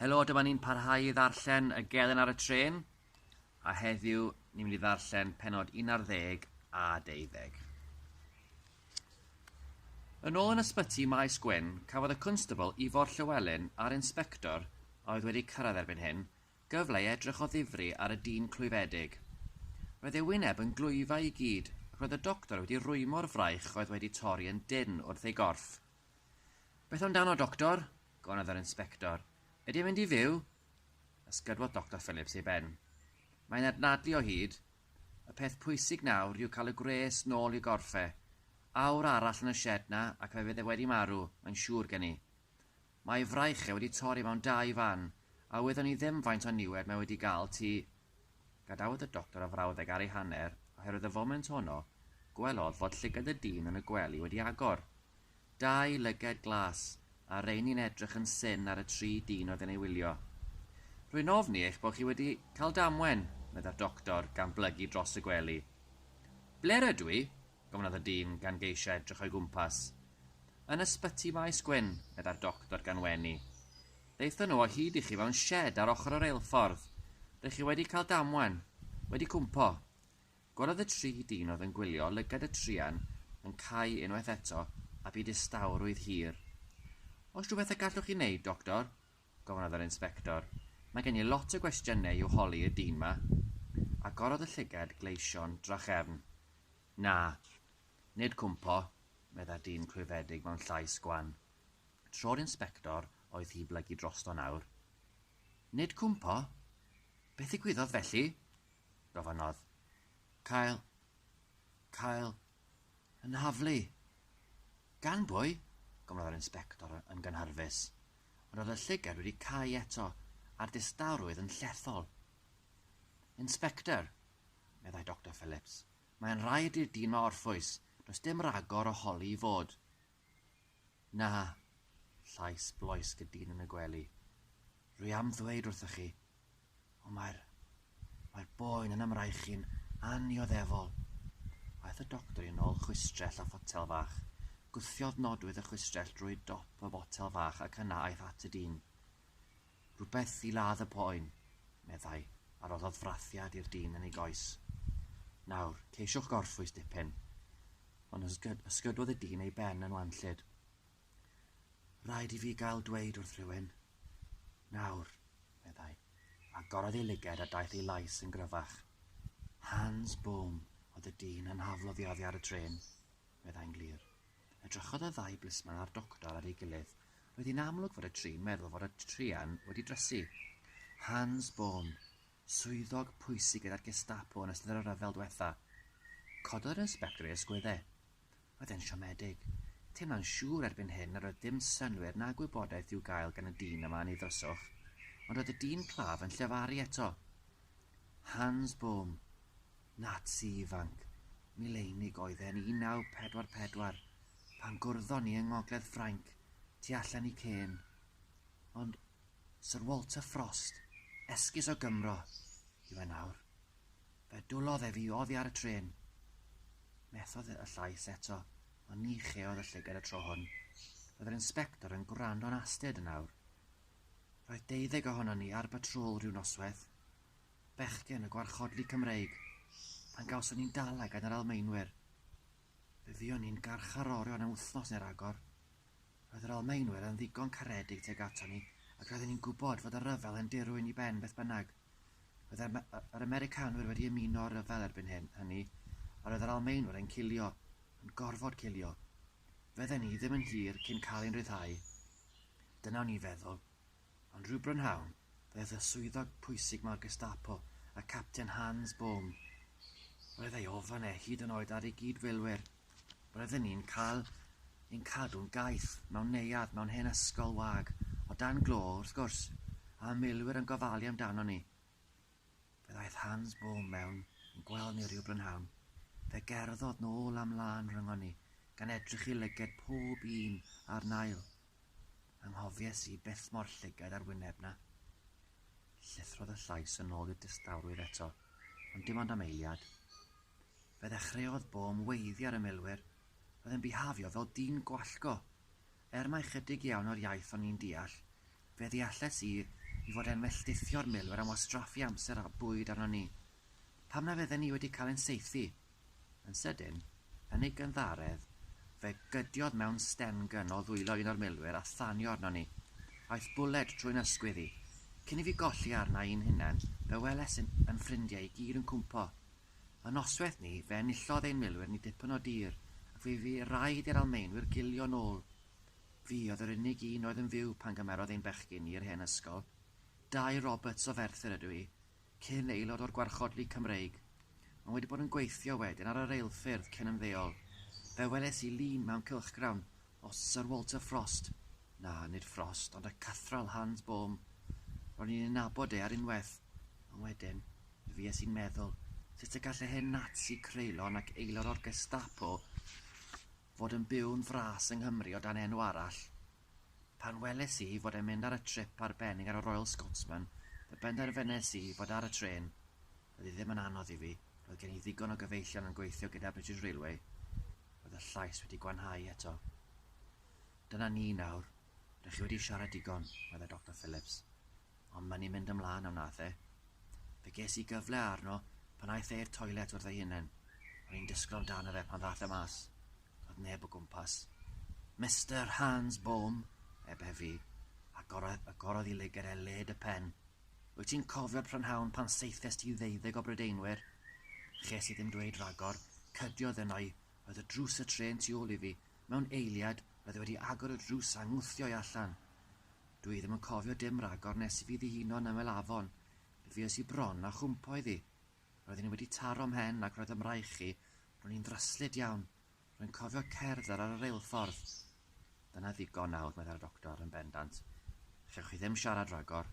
Helo, dyma ni'n parhau i ddarllen y gelen ar y tren, a heddiw ni'n mynd i ddarllen penod 11 a 12. Yn ôl yn ysbyty Maes Gwyn, cafodd y constable Ifor Llywelyn a'r inspector a oedd wedi cyrraedd erbyn hyn gyfle i edrych o ddifri ar y dyn clwyfedig. Roedd ei wyneb yn glwyfau i gyd ac roedd y doctor wedi rwymo'r fraich oedd wedi torri yn dyn wrth ei gorff. Beth amdano, Doctor? gofynnodd yr inspector. Ydy e'n mynd i fyw? Ysgydwodd Doctor Phillips ei ben. Mae'n adnadlu o hyd. Y peth pwysig nawr yw cael y gwres nôl i gorffe. Awr arall yn y sied na ac fe fydd e wedi marw, mae'n siŵr gen i. Mae ei fraich e wedi torri mewn dau fan, a wyddwn i ddim faint o niwed mae wedi gael tu Gadawodd y doctor y frawddeg ar ei hanner, oherwydd y foment honno, gwelodd fod llygad y dyn yn y gwely wedi agor. Dau lyged glas, a rheini'n edrych yn syn ar y tri dyn oedd yn ei wylio. Rwy'n ofni eich bod chi wedi cael damwen, meddai'r doctor, gan blygu dros y gwely. Ble rydw i? gofynnodd y dyn, gan geisio edrych o'i gwmpas. Yn Ysbyty Maes Gwyn, meddai'r doctor gan wenu. Daethon nhw o hyd i chi mewn sied ar ochr y reilffordd. Rych chi wedi cael damwen. Wedi cwmpo. Gweled y tri dyn oedd yn gwylio lygad y truan yn cau unwaith eto a bu distawrwydd hir. Oes rhywbeth y gallwch chi wneud, Doctor? gofynnodd yr Inspector. Mae gen i lot o gwestiynau i'w holi y dyn 'ma. Agorodd y llygad gleision drachefn. Na. Nid cwmpo, meddai'r dyn clwyfedig mewn llais gwan. Tro'r Inspector oedd hi blygu drosto nawr. Nid cwmpo? Beth ddigwyddodd felly? gofynnodd. Cael... cael... yn nhaflu. Gan bwy? gofynnodd yr Inspector yn gynhyrfus, ond oedd y llygad wedi cau eto a'r distawrwydd yn llethol. Inspector, meddai Doctor Phillips, mae'n rhaid i'r dyn orffwys, does dim ragor o holi i fod. Na! llais bloesg y dyn yn y gwely. Rwy am ddweud wrthoch chi, ond mae'r... mae'r boen yn ymraechu'n annioddefol. Aeth y doctor i nol chwistrell a photel fach. Gwthiodd nodwydd y chwistrell drwy dop y botel fach ac yna aeth at y dyn. Rhywbeth i ladd y poen, meddai, a roddodd frathiad i'r dyn yn ei goes. Nawr, ceisiwch gorffwys dipyn. Ond ysgyd ysgydwodd y dyn ei ben yn wanllyd. Rhaid i fi gael dweud wrth rhywun. Nawr, meddai, a gorodd ei lyged a daeth ei lais yn gryfach. Hans Bohm oedd y dyn anhaflodd i oddi ar y trên, meddai'n glir. Edrychodd y ddau blisman a'r doctor ar ei gilydd. Roedd hi'n amlwg fod y tri'n meddwl fod y druan wedi drysu. Hans Bohm, swyddog pwysig gyda'r Gestapo yn ystod y rhyfel dwetha. Cododd yr inspector ei ysgwydde. Roedd e'n siomedig. Teimlo'n siŵr erbyn hyn nad oedd dim synnwyr na gwybodaeth i'w gael gan y dyn yma yn ei ddryswch. Ond roedd y dyn claf yn llefaru eto. Hans Bohm, Nazi ifanc, Milainig oedd e'n 1944 pan gwrddon ni yng ngogledd Ffrainc tu allan i Caen. Ond Syr Walter Frost, esgus o Gymro, yw e nawr. Fe dwlodd e fi oddi ar y trên. Methodd y llais eto, ond ni cheodd y llygad y tro hwn. Roedd yr inspector yn gwrando'n astud yn awr. Roedd deuddeg ohonon ni ar batrŵl rhyw noswaith. bechgyn y gwarchodlu Cymreig pan gawson ni'n dala gan yr Almaenwyr. Fe fuon ni'n garcharorion am wythnos neu ragor. Roedd yr Almaenwyr yn ddigon caredig tuag aton ni ac roedden ni'n gwybod fod y rhyfel yn dirwyn i ben beth bynnag. Roedd yr, yr Americanwyr wedi ymuno â'r rhyfel erbyn hyn, hynny, a roedd yr Almaenwyr yn cilio, yn gorfod cilio. Fydden ni ddim yn hir cyn cael ein rhyddhau. Dyna o'n i'n feddwl. Ond rhyw brynhawn, doedd y swyddog pwysig ma'r Gestapo, y Capten Hans Bohm, roedd ei ofn e hyd yn oed ar ei gyd-filwyr. Roedden ni'n cael ein cadw'n gaeth mewn neuadd mewn hen ysgol wag, o dan glo, wrth gwrs, a y milwyr yn gofalu amdanon ni. Fe ddaeth Hans Bohm mewn i'n gweld ni rhyw brynhawn. Fe gerddodd nôl a mlân rhyngon ni, gan edrych i lyged pob un a'r nail. Anghofies i beth mor llygad â'r wyneb 'na. Llithrodd y llais yn ôl i'r distawrwydd eto, ond dim ond am eiliad. Fe ddechreuodd bom weiddi ar y milwyr, oedd yn bihafio fel dyn gwallgo. Er mai chydig iawn o'r iaith o'n i'n deall, fe ddealles i i fod e'n melltithio'r milwyr am wastraffu amser a bwyd arnon ni. Pam na fydden ni wedi cael ein saethu? Yn sydyn, yn ei gynddaredd, fe gydiodd mewn stengen o ddwylo un o'r milwyr a thanio arnon ni. Aeth bwled trwy'n ysgwydd i. Cyn i fi golli arna i'n hunain, fe weles yn yn ffrindiau i gyd yn cwmpo. Yn noswaith ni, fe enillodd ein milwyr ni dipyn o dir, ac fe fu raid i'r Almaenwyr gilio nôl. Fi oedd yr unig un oedd yn fyw pan gymerodd ein bechgyn ni i'r hen ysgol. Dai Roberts o Ferthyr ydw i, Cyn aelod o'r Gwarchod League Cymreig, ond wedi bod yn gweithio wedyn ar y reilffyrdd cyn ymddeol, fe weles i lun mewn cylchgrawn o Sir Walter Frost, na, nid Frost, ond y Cathral Hans Bohm. Ro'n i'n ei nabod e ar unwaith, ond wedyn, mi fues i'n meddwl, sut y gall y hen Nazi creulon ac aelod o'r Gestapo fod yn byw'n fras yng Nghymru o dan enw arall? Pan weles i fod e'n mynd ar y trip arbennig ar y Royal Scotsman, fe benderfynes i fod ar y trên. Doedd hi ddim yn anodd i fi, roedd gen i ddigon o gyfeillion yn gweithio gyda British Railway. Roedd y llais wedi gwanhau eto. Dyna ni nawr, rŷch chi wedi siarad digon, meddai Doctor Phillips. Ond mae'n i mynd ymlaen, a wnaeth e. Fe ges i gyfle arno pan aeth e i'r toilet wrth ei hunen. O'n i'n disgwyl amdano fe pan ddaeth e mas. Doedd neb o gwmpas. Mister Hans Bohm, eb efi, agorodd, agorodd i lygaid e led y pen. Wyt ti'n cofio prynhawn pan saethest ti ddeuddeg o Brydeinwyr? Ches i ddim dweud rhagor, cydiodd yno i, roedd y drws y trên tu ôl i fi, mewn eiliad, roedd e wedi agor y drws a ngwthio i allan. Dw i ddim yn cofio dim rhagor nes i fi ddihuno yn ymyl afon. Mi fues i bron a chwmpo iddi. Roeddwn i wedi taro 'mhen ac roedd ym mraich i, ro'n i'n ddryslyd iawn. Rwy'n cofio cerdded ar y reilffordd. Dyna ddigon nawr, meddai'r doctor yn bendant. Chewch chi ddim siarad rhagor.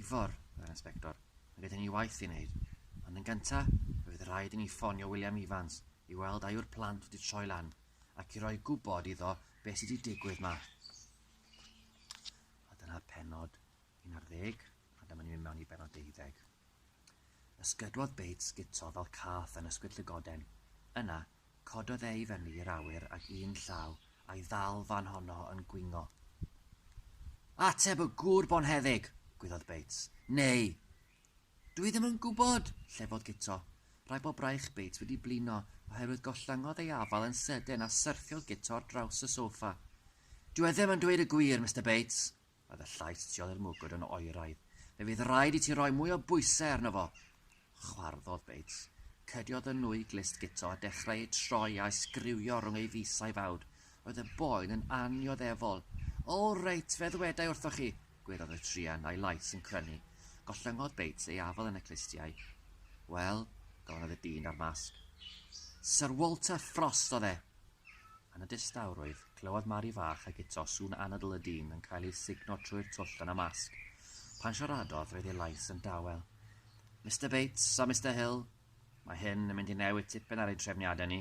Ifor, meddai'r inspector, mae gyda ni waith i wneud, ond yn gyntaf fe fydd rhaid i ni ffonio William Evans i weld a yw'r plant wedi troi lan ac i roi gwybod iddo beth sydd wedi digwydd ma. A dyna penod 11, a dyma ni'n mynd mewn i benod 12. Ysgydwodd Bates guto fel cath yn ysgwyd llygoden. Yna, cododd e i fyny i'r awyr ag un llaw a'i ddal fan honno yn gwingo. Ateb y gŵr bonheddig! gwyddodd Bates. Neu! Dw i ddim yn gwybod! llefodd Guto. Rhaid bod braich Bates wedi blino, oherwydd gollyngodd ei afal yn sydyn a syrthiodd Guto ar draws y sofa. Dyw e ddim yn dweud y gwir, Mister Bates! Oedd y llais tu ol i'r mwgwd yn oeraidd. Fe fydd raid i ti roi mwy o bwysau arno fo! Chwarddodd Bates. Cydiodd y nwy glust guto a dechrau eu troi a'u sgriwio rhwng ei fys a'i fawd. Roedd y boen yn annioddefol. O, reit, fe ddwedai wrthoch chi! gweiddodd y truan, a'i lais yn crynu. Gollyngodd Bates ei afal yn y clustiau. Wel, gofynnodd y dyn â'r masg. Syr Walter Frost oedd e! Yn y distawrwydd, clywodd Mari fach a Guto sŵn anadl y dyn yn cael ei sugno trwy'r twll yn y masg. Pan siaradodd, roedd ei lais yn dawel. Mister Bates a Mister Hill, mae hyn yn mynd i newid tipyn ar ein trefniadau ni.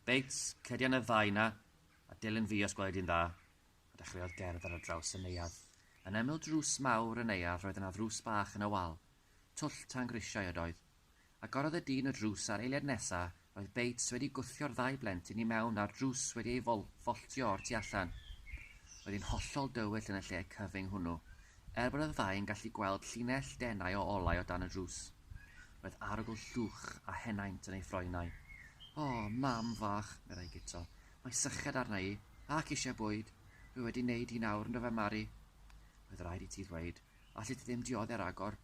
Bates, cedi yn y ddau na, a dilyn fi os gwelai di'n dda. A dechreuodd gerdd ar draws y neuadd. Yn ymyl drws mawr y neuadd roedd yna ddrws bach yn y wal. Twll tan grisiau ydoedd. Agorodd y dyn y drws a'r eiliad nesa, roedd Bates wedi gwthio'r ddau blentyn i mewn a'r drws wedi ei fol-ffoltio o'r tu allan. Roedd hi'n hollol dywyll yn y lle cyfyng hwnnw, er bod y ddau yn gallu gweld llinell denau o olau o dan y drws. Roedd arogl llwch a henaint yn ei ffroenau. O, mam fach, meddai Guto, mae syched arna i, ac eisiau bwyd. Dwi wedi neud hi nawr, yndofe Mari? Roedd raid i ti ddweud, allet ti ddim diodde'r agor.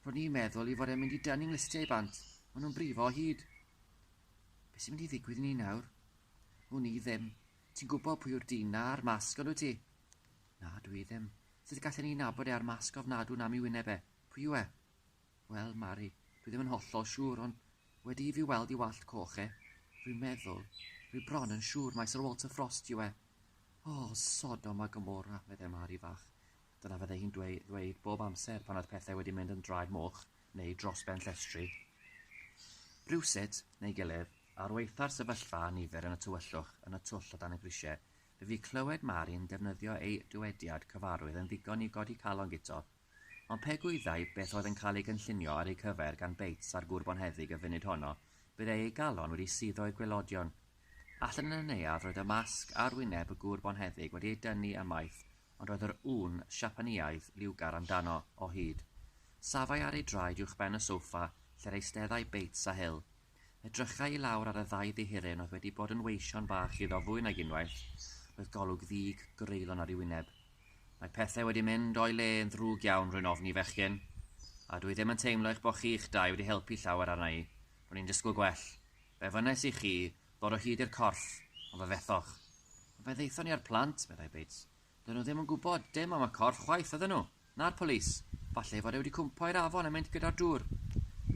Ro'n i'n meddwl i fod e'n mynd i dynnu 'nglistiau i bant, o'n nhw'n brifo o hyd. Be' sy'n mynd i ddigwydd i ni nawr? Wn i ddim. Ti'n gwybod pwy yw'r dyn 'na a'r masg, ond wyt ti? Na, dwi ddim. Sut gallen ni nabod e a'r masg ofnadw 'na am 'i wyneb e? Pwy yw e? Wel, Mari, dwi ddim yn hollol siŵr, ond wedi i fi weld 'i wallt coch e, rwy'n meddwl, rwy bron yn siŵr mai Sir Walter Frost yw e. O, Sodom a Gomorrah! medde Mari fach. Dyna fydde hi'n ddweud bob amser pan oedd pethau wedi mynd yn draed moch neu dros ben llestri. Rhywsut, neu gilydd, ar waetha'r sefyllfa a nifer yn y tywyllwch yn y twll o dan y grisiau, fe fu clywed Mari'n defnyddio ei dywediad cyfarwydd yn ddigon i godi calon Guto. Ond pe gwyddai beth oedd yn cael ei gynllunio ar eu cyfer gan Bates a'r gŵr bonheddig y funud honno, byddai ei galon wedi suddo i'r gwaelodion. Allan yn y neuadd roedd y masg ar wyneb y gŵr bonheddig wedi ei dynnu ymaith ond roedd yr ŵyn Siapaneaidd liwgar amdano, o hyd. Safai ar ei draed uwchben y sofa lle'r eisteddai Bates a Hill. Edrychai i lawr ar y ddau ddihiryn oedd wedi bod yn weision bach iddo fwy nag unwaith, roedd golwg ddig greulon ar ei wyneb. Mae pethau wedi mynd o'i le yn ddrwg iawn, rwy'n ofni, fechgyn. A dwi ddim yn teimlo eich bod chi'ch dau wedi helpu llawer arna i. Ro'n i'n disgwyl gwell. Be wnes i chi, Dod o hyd i'r corff, ond fe fethoch. Ond fe ddaethon ni â'r plant, meddai Bates. Doedden nhw ddim yn gwybod dim am y corff chwaith, oedden nhw. Na'r polis. Falle ei fod e wedi cwmpo i'r afon a mynd gyda'r dŵr.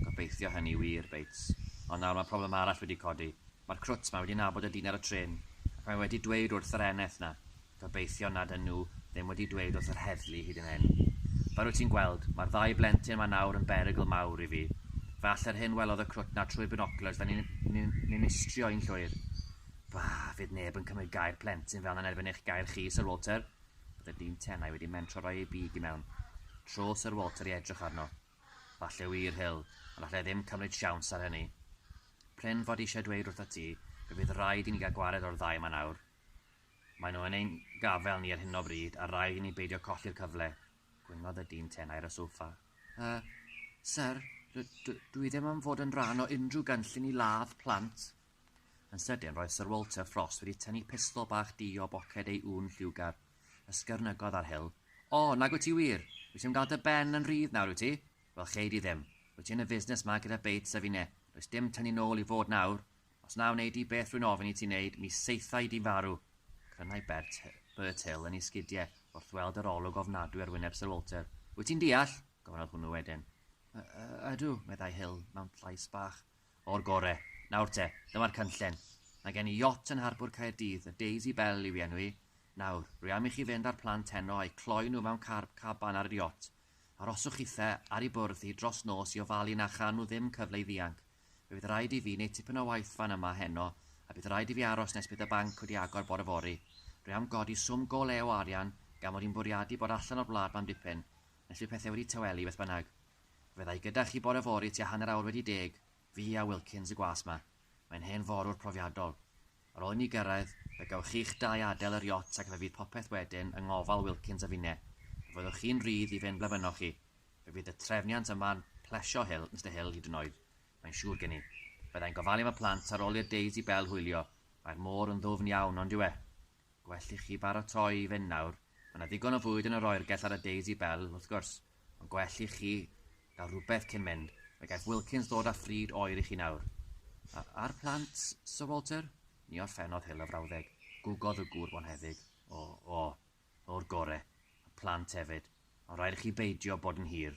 Gobeithio hynny wir, Bates. Ond nawr mae problem arall wedi codi. Mae'r crwt 'ma wedi nabod y dyn ar y trên, ac mae wedi dweud wrth yr eneth 'na. Gobeithio nad ŷn nhw ddim wedi dweud wrth yr heddlu hyd yn hyn. Fel wyt ti'n gweld, mae'r ddau blentyn yma nawr yn berygl mawr i fi. Fe allai'r hyn welodd y crwt 'na trwy'r binoculars da ni'n ni'n istrio i'n llwyr. Bah, fydd neb yn cymryd gair plentyn fel 'na yn erbyn eich gair chi, Sir Walter. Roedd y dyn tenau wedi mentro roi ei big i mewn. Trodd Sir Walter i edrych arno. Falle wir, Hill, ond allai ddim cymryd siawns ar hynny. Prin fod i eisiau dweud wrthat ti, fe fydd raid i ni gael gwared o'r ddau yma nawr. Maen nhw yn ein gafael ni ar hyn o bryd a rhaid i ni beidio colli'r cyfle, gwynnodd y dyn tenau ar y soffa. Yy, syr, dw i ddim am fod yn rhan o unrhyw gynllun i ladd plant. Yn sydyn, roedd Sir Walter Frost wedi tynnu pistol bach du o boced ei ŵn lliwgar. Ysgyrnygodd ar Hill. O, nag wyt ti wir? Wyt ti'n gael dy ben yn rhydd nawr, wyt ti? Wel, chei di ddim. Wyt ti yn y fusnes ma gyda Bates a finne. Does dim tynnu nôl i fod nawr. Os na wnei di beth rwy'n ofyn i ti wneud, mi saethai di farw! Crynai Bert, Bert Hill yn ei sgidiau wrth weld yr olwg ofnadwy ar wyneb Sir Walter. Wyt ti'n deall? gofynnodd hwnnw wedyn. Y, y, ydw, meddai Hill mewn llais bach. O'r gore. Nawr te, dyma'r cynllun. Mae gen i iot yn harbwr Caerdydd, y Daisy Belle yw ei enw hi. Nawr, rwy am i chi fynd â'r plant heno a'u cloi nhw mewn carb caban ar yr iot. Aroswch chithau ar ei bwrdd hi dros nos i ofalu na cha nhw ddim cyfle i ddianc. Fe fydd raid i fi neud tipyn o waith fan yma heno a bydd raid i fi aros nes bydd y banc wedi agor bore fory. Dwi am godi swm go lew o arian gan mod i'n bwriadu bod allan o'r wlad mam dipyn nes bydd pethe wedi tawelu beth bynnag. Fydda i gyda chi bore fory tua hanner awr wedi deg, fi a Wilkins y gwas 'ma. Mae'n hen forwr profiadol. Ar ôl i ni gyrraedd, fe gewch chi'ch dau adael yr iot ac fe fydd popeth wedyn yng ngofal Wilkins a finne. Fe fyddwch chi'n rhydd i fynd ble fynnoch chi. Fe fydd y trefniant yma'n plesio Hill, Mister Hill, hyd yn oed, mae'n siŵr gen i. Fydda i'n gofalu am y plant ar ol i'r Daisy Bell hwylio, mae'r môr yn ddwfn iawn, on'd yw e? Gwell i chi baratoi i fynd nawr, mae 'na ddigon o fwyd yn yr oergell ar y Daisy Belle, wrth gwrs, ond gwell i chi gael rhywbeth cyn mynd, fe gaiff Wilkins ddod â phryd oer i chi nawr. A, a'r plant, Sir Walter? Ni orffennodd Hill y frawddeg. Gwgodd y gŵr bonheddig. O, o, o'r gore. Y plant hefyd. Ond rhaid i chi beidio bod yn hir.